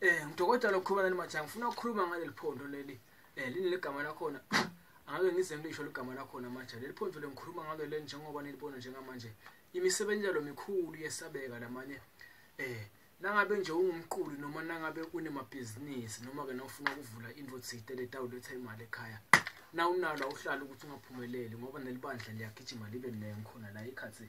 Eh ngidokotela okhuluma nani manje ngifuna ukukhuluma ngaleli phondo leli. Eh lini legama lakhona? Angeke ngize ngisho legama lakhona manje. Leli phondo lengikhuluma ngalo le njengoba nilibona njengamanje. Imisebenzi yalo mikhulu yesabeka lamanye. Eh nangabe nje ungumqulu noma nangabe unemabhizinisi noma ke nawufuna ukuvula into thide letawuletha imali ekhaya. Na unalo awuhlala ukuthi ungaphumeleli ngoba nelibandla liyagijima libe nengikhona la ikhathi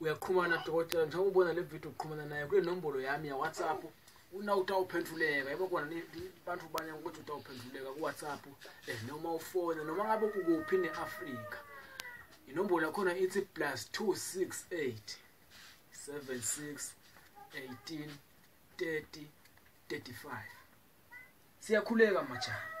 uyaqhumana dokotela njengoba ubona le video uqhumana naye kule nombolo yami yawhatsapp una utawuphenduleka yebo kona abantu banye ukuthi utawuphenduleka kuwhatsapp eh, noma ufone noma ngabe ukuphi ne-afrika inombolo yakhona ithi plus 268 76 18 30 35 siyakhuleka majana